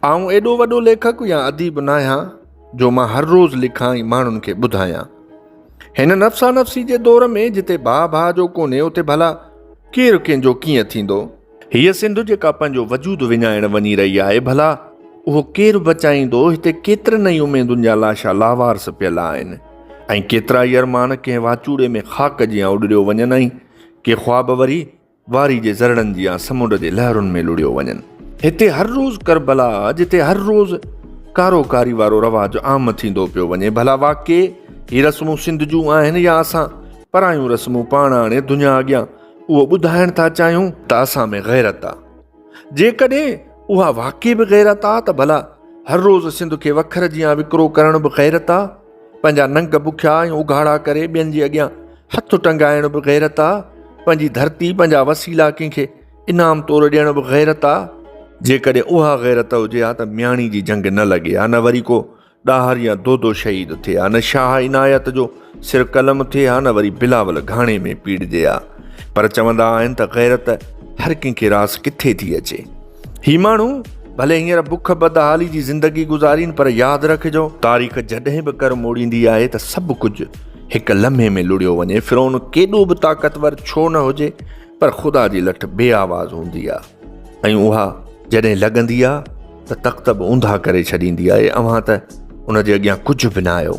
آئون ايڏو وڏو ليکڪ يا اديب ناهيان جو مان هر روز لکان ۽ ماڻهن کي ٻڌايان. هن نفسا نفسي جي دور ۾ جتي ڀاء ڀاء جو ڪونهي اتي ڀلا ڪير ڪنهن جو ڪيئن ٿيندو؟ هيء سنڌ جيڪا پنهنجو وجود وڃائڻ وڃي رهي آهي ڀلا اهو ڪير بچائيندو؟ هتي ڪيترن ئي اميدن جا لاشا لاوارث پيل آهن ۽ ڪيترائي ارمان ڪنهن واچوڙي ۾ خاڪ جيان اڏريو وڃن ۽ ڪي خواب وري واري جي ذرڙن جيان سمنڊ جي لهرن ۾ لڙيو وڃن. هتي هر روز ڪربلا جتي هر روز ڪارو ڪاري وارو رواج عام ٿيندو پيو وڃي ڀلا واقعي هي رسمون سنڌ جون آهن يا اسان پرايون رسمون پاڻ آڻي دنيا اڳيان اهو ٻڌائڻ ٿا چاهيون ته اسان ۾ غيرت آ جيڪڏهن اها واقعي به غيرت آ ته ڀلا هر روز سنڌ کي وکر جيان وڪرو ڪرڻ به غيرت آ. پنهنجا ننگ بکيا ۽ اگهاڙا ڪري ٻين جي اڳيان هٿ ٽنگائڻ به غيرت آ پنهنجي ڌرتي پنهنجا وسيلا ڪنهن کي انعام طور ڏيڻ به غيرت آ جيڪڏهن اها غيرت هجي ها ته مياڻي جي جنگ نه لڳي ها نه وري ڪو ڏاهر يا دودو شهيد ٿئي ها نه شاهه عنايت جو سر قلم ٿئي ها نه وري بلاول گهاڻي ۾ پيڙجي ها پر چوندا آهن ته غيرت هر ڪنهن کي راس ڪٿي ٿي اچي هي ماڻهو ڀلي هينئر بک بدحالي جي زندگي گذارين پر ياد رکجو تاريخ جڏهن به ڪر موڙيندي آهي ته سڀ ڪجهه هڪ لمحي ۾ لڙيو وڃي فرعون ڪيڏو به طاقتور ڇو نه هجي پر خدا جي لٺ بي آواز هوندي آهي ۽ اها جڏهن لڳندي آهي ته تخت به اونڌا ڪري ڇڏيندي آهي اوهان ته ان جي اڳيان ڪجهه به نه آهيو